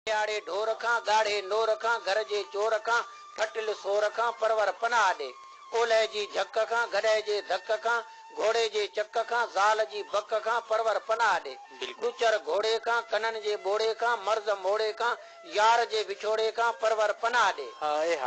ڏيهاڙي ڍور کان، ڳاڙهي نور کان، گهر جي چور کان، ڦٽل سور کان، پرور پناهه ڏي. اولهه جي جهڪ کان، گڏهه جي ڌڪ کان، گهوڙي جي چڪ کان، زال جي بڪ کان، پرور پناهه ڏي. ڏچر گهوڙي کان، ڪنن جي ٻوڙي کان، مرض موڙي کان، يار جي وڇوڙي کان، پرور پناهه ڏي.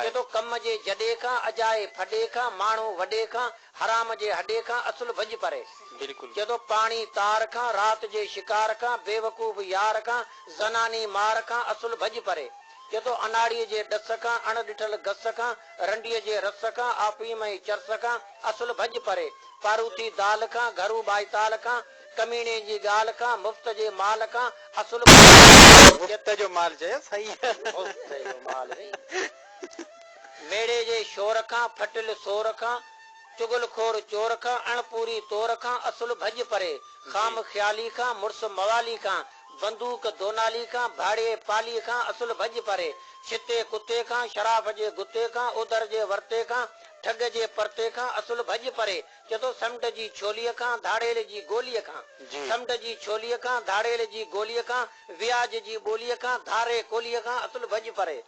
چي ٿو ڪم جي جڏي کان، اجائي ڦڏي کان، ماڻهو وڏي کان، حرام جي هڏي کان اصل ڀڄ پري. جدو پاڻي تار کان رات جي شڪار کان بيوقوف يار کان زناني مار کان اصل ڀڄ پري. جدو اناڙي جي ڏس کان اڻ ڏٺل گس کان رنڊي جي رس کان آفيم ۽ چرس کان اصل ڀڄ پري. پاروٿي دال کان گهرو ٻائتال کان ڪميڻي جي ڳالهه کان مفت جي مال کان اصل ڀڄ پري. مفت جو مال چيس هئي. مفت جو مال هئي. ميڙي جي شور کان، ڦٽل سور کان، چغل خور چور کان، اڻ پوري طور کان، اصل ڀڄ پري، خام خيالي کان، مڙس موالي کان، بندوق دونالي کان، ڀاڙيي پالي کان، اصل ڀڄ پري، شتي ڪتي کان، شراف جي گتي کان، اودر جي ورتي کان، ٺڳ جي پرتي کان، اصل ڀڄ پري، چئه ٿو سمنڊ جي ڇولي کان، ڌاڙيل جي گولي کان، سمنڊ جي ڇولي کان، ڌاڙيل جي گولي کان، وياج جي ٻولي کان، ڌاري ڪولي کان، اصل ڀڄ پري.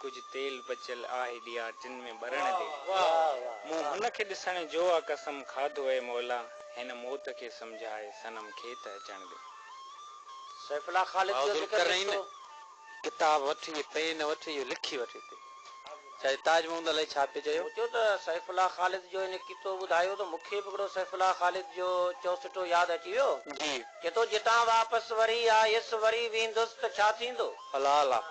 ڪجهه تيل بچيل آهي ڏيان ٽن ۾ ٻرڻ ڏي. مون هن کي ڏسڻ جوآ قسم کاڌو اي مولا هن موت کي سمجهائي صنم کي ته اچڻ ڏي. سيف الله خالد جو ذڪر لکيو. ڪتاب وٺي پين وٺي اهو لکي وٺ هتي ڇاجي تاج محمود علي ڇا پيو چيو. سوچيو ته سيف الله خالد جو هن ڪتو ٻڌايو ته مون کي به هڪڙو سيف الله خالد جو چوسٽو ياد اچي ويو. جي. چي ٿو جتان واپس وري آيس وري ويندس ته ڇا ٿيندو. الله الله.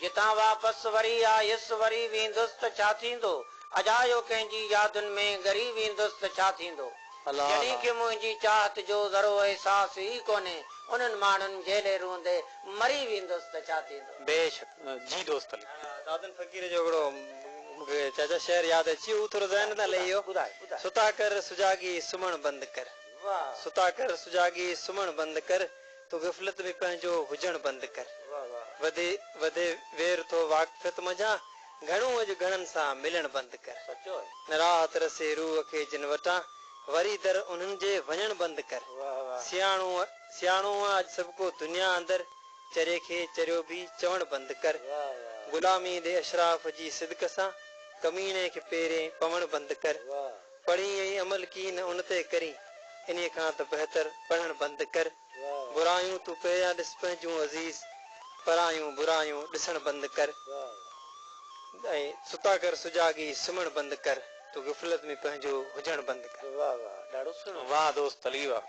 جتان واپس وري آيس وري ويندس ته ڇا ٿيندو؟ اجايو ڪنهن جي يادن ۾ ڳري ويندس ته ڇا ٿيندو؟ جنھن کي منهنجي چاهت جو ذرو احساس ئي ڪونهي انهن ماڻهن جهلي روئندي مري ويندس ته ڇا ٿيندو؟ بيشڪ جي دوست علي. دادن فقير جو هڪڙو مون کي چاچا شعر ياد اچي ويو هو ٿورو ذهن تان لهي ويو. ستا ڪر سجاڳي سمهڻ بند ڪر. ستا ڪر سجاڳي سمهڻ بند ڪر. تو غفلت ۾ پنهنجو هجڻ بند ڪر. وڌي وڌي وير ٿو واقفيت منجهان گهڻو اڄ گهڻن سان ملڻ بند ڪر. نه راحت رسي روح کي جن وٽان وري در انهن جي وڃڻ بند ڪر. سياڻو سياڻو آ اڄ سڀڪو دنيا اندر چري کي چريو به چوڻ بند ڪر. غلامي ڏي اشراف جي صدق سان ڪميڻي کي پيرين پوڻ بند ڪر. پڙهين ۽ عمل ڪين ان تي ڪرين. انهيء کان ته بهتر پڙهڻ بند ڪر. برايون تون پهريان ڏس پنهنجون عزيز. پرايون برايون ڏسڻ بند ڪر. ۽ ستا ڪر سجاڳي سمهڻ بند ڪر. تون غفلت ۾ پنهنجو هجڻ بند ڪر. واهه دوست علي واهه.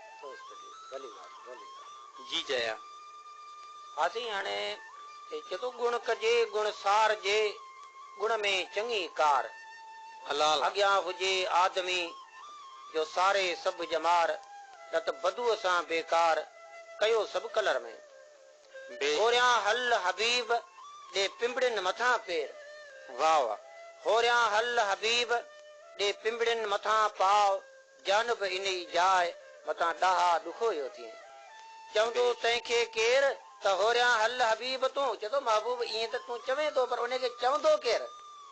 جي چيا. ها سائين هاڻي چئي ٿو. گڻ ڪجي گڻ سارجي. گڻ ۾ چڱي ڪار. حلال اڳيان هجي آدمي جو ساري سڀ ڄمار نه ته بدوء سان بيڪار ڪيو سڀ ڪلر ۾ بي هوريان هل حبيب ڏي پنبڙين مٿان پير واء هوريان هل حبيب ڏي پنبڙين مٿان پاء. جانب انهي جاء متان ڏاها ڏکويو ٿئين. چوندو، تنهن کي ڪير؟ ته هوريان هل حبيب تون. چئي ٿو، محبوب ائين ته تون چوين ٿو، پر انهي کي چوندو ڪير؟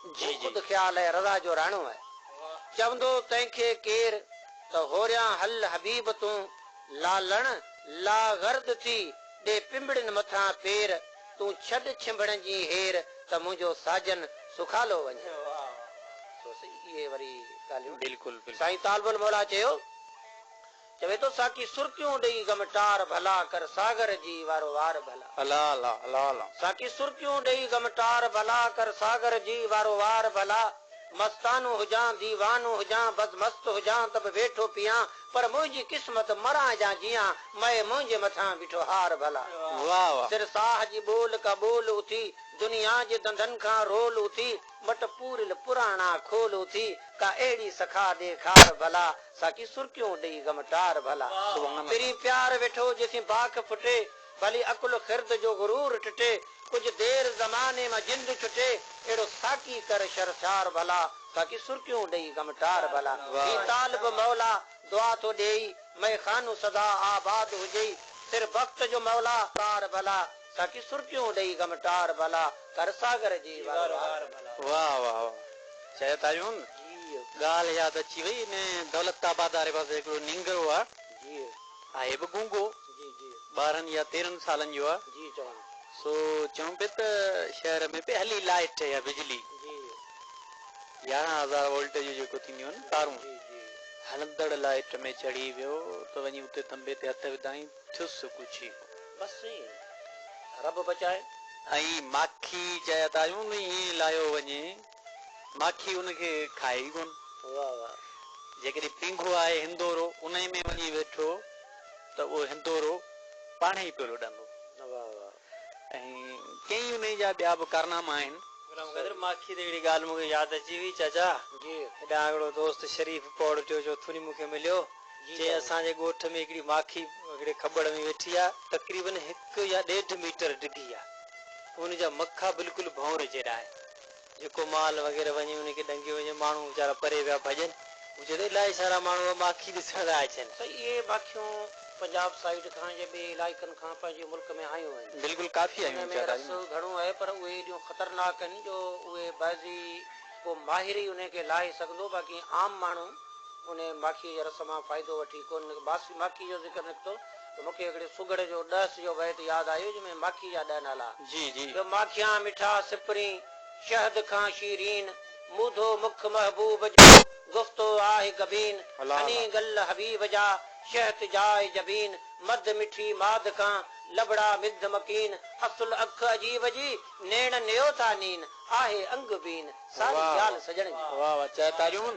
هو خود خيال ۽ رضا جو راڻو آهي. چوندو، تنهن کي ڪير؟ ته هوريان هل حبيب تون. لالڻ لاغرد ٿي، ڏي پنبڙين مٿان پير. تون ڇڏ ڇنڀڻ جي هير ته منهنجو ساجن سخالو وڃي. سو سهي اهي وري ڳالهيون. بلڪل بلڪل. سائين طالب الموليٰ چيو، چوي ٿو ساقي سرڪيون ڏئي غم ٽار ڀلا ڪر ساغر جي وارو وار ڀلا. الا الا الا الا. ساقي سرڪيون ڏئي غم ٽار ڀلا ڪر ساغر جي وارو وار ڀلا مستانو هجان ديوانو هجان بز مست هجان ته به ويٺو پيان پر منهنجي قسمت مران يا جيان مئي منهنجي مٿان بيٺو هار ڀلا. سر ساهه جي ٻول ڪا ٻول اٿي دنيا جي دنڌن کان رول اٿي مٽ پوريل پراڻا کول اٿي ڪا اهڙي سخا ڏيکار ڀلا ساقي سرڪيون ڏئي غم ٽار ڀلا. پرين پيار ويٺو جيسين باک ڦٽي. ڀلي عقل خرد جو غرور ٽٽي، ڪجهه دير زماني مان جند ڇٽي، اهڙو ساقي ڪر شرشار ڀلا، باقي سرڪيون ڏئي غم ٽار ڀلا، هي طالب مولا دعا ٿو ڏيئي، مئي خانو سدا آباد هجئي، سر بخت جو مولا ڪار ڀلا، ساقي سرڪيون ڏئي غم ٽار ڀلا، ڪر ساغر جي وار وار ڀلا. واھ واھ واھ چيو تايون ڳالھ ياد اچي وئي انھي دولت آباد واري پاسي ھڪڙو نينگرو آ آهي به گونگو، ٻارهن يا تيرهن سالن جو آهي، سو چون پئي ته شهر ۾ پئي هلي لائيٽ يا بجلي، يارهن هزار وولٽ جون جيڪو ٿينديون آهن تارون، هلندڙ لائيٽ ۾ چڙهي ويو ته وڃي اتي ٿنڀي تي هٿ وڌائين، ٿيس ڳجهي ڪو. بس ايئن ئي رب بچائي. ۽ ماکي چيا ته آيون نو ائين لاهيو وڃي. ماکي ان کي کائي ئي ڪونه. واھ واھ جيڪڏهن پينگهو آهي هندورو انهي ۾ وڃي ويٺو ته اهو هندورو پاڻهي ئي پيو لڏندو. واھ واھ. ۽ ڪيئي انهي جا ٻيا به ڪارناما آهن. غلام قادر ماکي تي هڪڙي ڳالهه مون کي ياد اچي وئي چاچا جي. هيڏانهن هڪڙو دوست شريف پوڙهٽيو جو ٿوني مون کي مليو چيائين اسان جي ڳوٺ ۾ هڪڙي ماکي هڪڙي کٻڙ ۾ ويٺي آ تقريبن هڪ يا ڏيڍ ميٽر ڊگهي آ ان جا مکا بلڪل ڀونر جيڏا آهن. جيڪو مال وغيره وڃي انهي کي ڏنگيو وڃي ماڻهو ويچارا پري ويا ڀڄن مون چيو ته الاهي سارا ماڻهو اها ماکي ڏسڻ لاء اچن. سائين اهي ماکيون پنجاب سائيڊ کان يا ٻئي علائقن کان پنهنجي ملڪ ۾ آيون آهن. بلڪل ڪافي آيون آهن زياده آيون آهن. انهن ۾ رس گهڻو آهي پر اهي ايڏيون خطرناڪ آهن جو اهي بعضي ڪو ماهر ئي انهي کي لاهي سگهندو باقي عام ماڻهو انهي ماکي جي رس مان فائدو وٺي ڪونه باس ماکي جو ذڪر نڪتو ته مون کي هڪڙي سگهڙ جو ڏهس جو بيت ياد آيو جنهن ۾ ماکي جا ڏهه نالا. جي جي. جو ماکيان مٺا سپرين، شهد کان شيرين، مودو مک محبوب جو، گفتو آهه گبين، هني گل حبيب جا، شهت جاء جبين، مڌ مٺي ماڌ کان، لبڙا مڌ مڪين، اصل اک عجيب جي، نيڻ نيو ٿا نين، آهه انگ بين، ساري ڳالهه سڄڻ جي. واهه واهه چئه تاريون.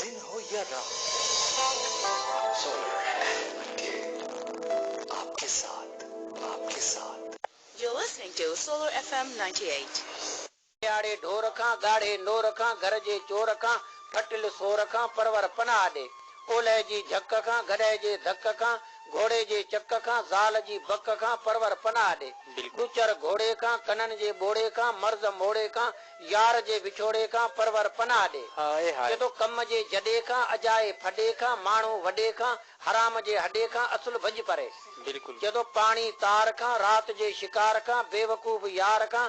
دن هو يا رات سن احمد کي آپ ڪي ساٿ آپ ڪي ساٿ. You're listening to Solar FM ninety eight. مياڙي ڍور کان، ڳاڙهي نور کان، گهر جي چور کان، ڦٽل سور کان، پرور پناهه ڏي. اولهه جي جهڪ کان، گڏهه جي ڌڪ کان، گهوڙي جي چڪ کان، زال جي بڪ کان، پرور پناهه ڏي. ڏچر گهوڙي کان، ڪنن جي ٻوڙي کان، مرض موڙي کان، يار جي وڇوڙي کان پرور پناهه ڏي. هائي هائي. چئي ٿو ڪم جي جڏي کان اجائي ڦڏي کان ماڻهو وڏي کان حرام جي هڏي کان اصل ڀڄ پري. بلڪل. چئي ٿو پاڻي تار کان رات جي شڪار کان بيوقوف يار کان